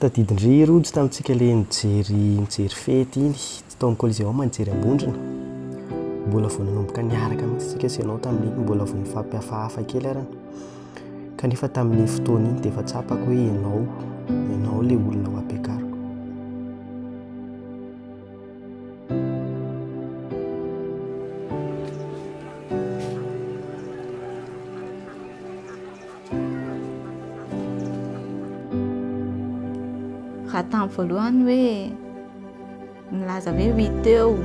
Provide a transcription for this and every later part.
Tadidin-dry Rojo tamintsika le nijery nijery fety iny Stone Coliseum nijery am-bondrona. Mbola vao nanomboka niaraka mihitsy isika sy ianao tamin'iny, mbola vao nifampihafahafa kely ary. Kanefa tamin'iny fotoana iny dia efa tsapako hoe ianao, ianao ilay olona ho ampiakariko. Raha tamin'ny voalohany hoe Milaza hoe wi teo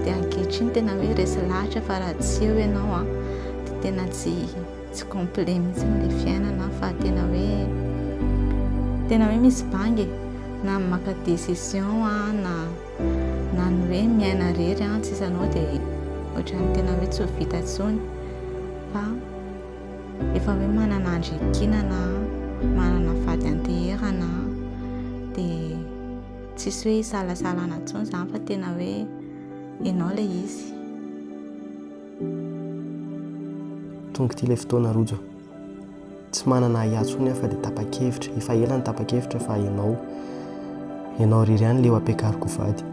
dia ankehitriny tena hoe resy lahatra fa raha tsy eo ianao an dia tena tsy tsy complet mihitsy ny fiainana fa tena hoe tena hoe misy bange na maka décision an na na ny hoe miaina rery an tsy sanao dia ohatran'ny tena hoe tsy ho vita tsony fa efa hoe manana andrikinana manana fady anteherana dia Tsisy hoe isalasalana intsony izany fa tena hoe ianao ilay izy. Tonga ity ilay fotoana Rojo. Tsy manana ahiahy intsony aho fa dia tapa-kevitra. Efa ela ny tapa-kevitra fa ianao, ianao irery ihany ilay ho ampiakariko ho vady.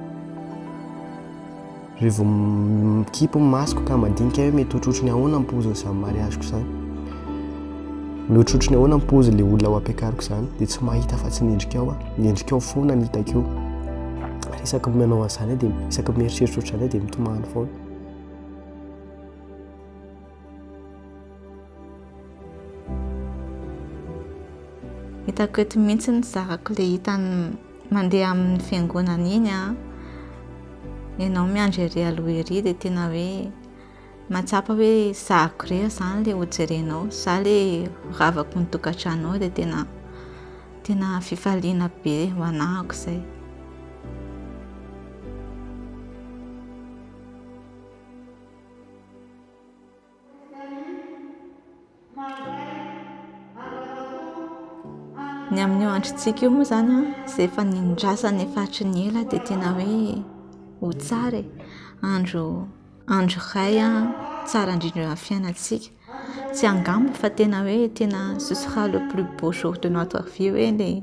Re vao mikipy ny masoko ka mandinika hoe mety hotrotro ny ahoana ny pozin'ny zany mariaziko zany. Mety hotrotro ny ahoana ny pozin'ny le olona ho ampiakariko zany dia tsy mahita fa tsy ny endrikao aho. Ny endrikao foana ny hitako io. Isaky ny manao an'izany dia isaky ny mieritreritra ohatr'izany dia mitomany foana. Hitako eto mihitsy ny zarako le hitany mandeha amin'ny fiangonana iny a. Ianao miandry ery aloha ery dia tena hoe mahatsapa hoe zariko irery izany ilay hojerenao. Za ilay horavako ny tokantranonao dia tena tena fifaliana be ho anahako izay. Ny amin'io androntsika io moa izany an, izay efa nindrasana efa hatry ny ela dia tena hoe ho tsara e. Andro andro iray tsara indrindra eo amin'ny fiainantsika. Tsy angamba fa tena hoe tena ce sera le plus beau jour de notre vie hoe ilay.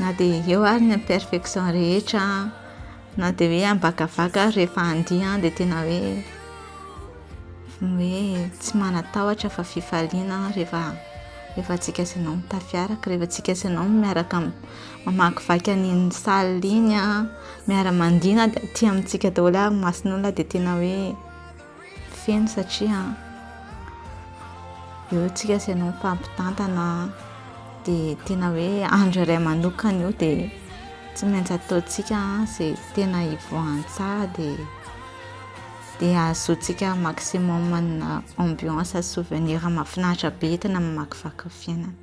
Na dia eo ary ny imperfection rehetra na dia hoe ambakavaka ary rehefa andiha dia tena hoe hoe tsy manatahotra fa fifaliana rehefa rehefa antsika sy anao mitafiaraka rehefa antsika sy anao miaraka mamakivaky an'iny salle iny miara-mandihy na dia aty amintsika daholo ary ny mason'olona dia tena hoe feno satria eo tsika sy ianao mifampitantana dia tena hoe andro iray manokana io dia tsy maintsy ataontsika izay tena hivoahany tsara dia dia hahazoantsika maximum ny ambiance sy souvenir mahafinaritra be entina mamakivaky ny fiainana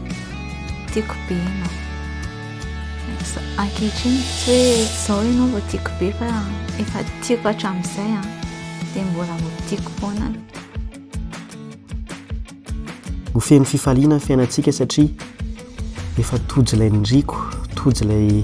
Tiako be ianao. Ankehitriny tsy hoe izao ianao vao tiako be fa efa tiako hatramin'izay an, dia mbola ho tiako foana aloha. Ho feno fifaliana ny fiainantsika satria efa tojo ilay niriko, tojo ilay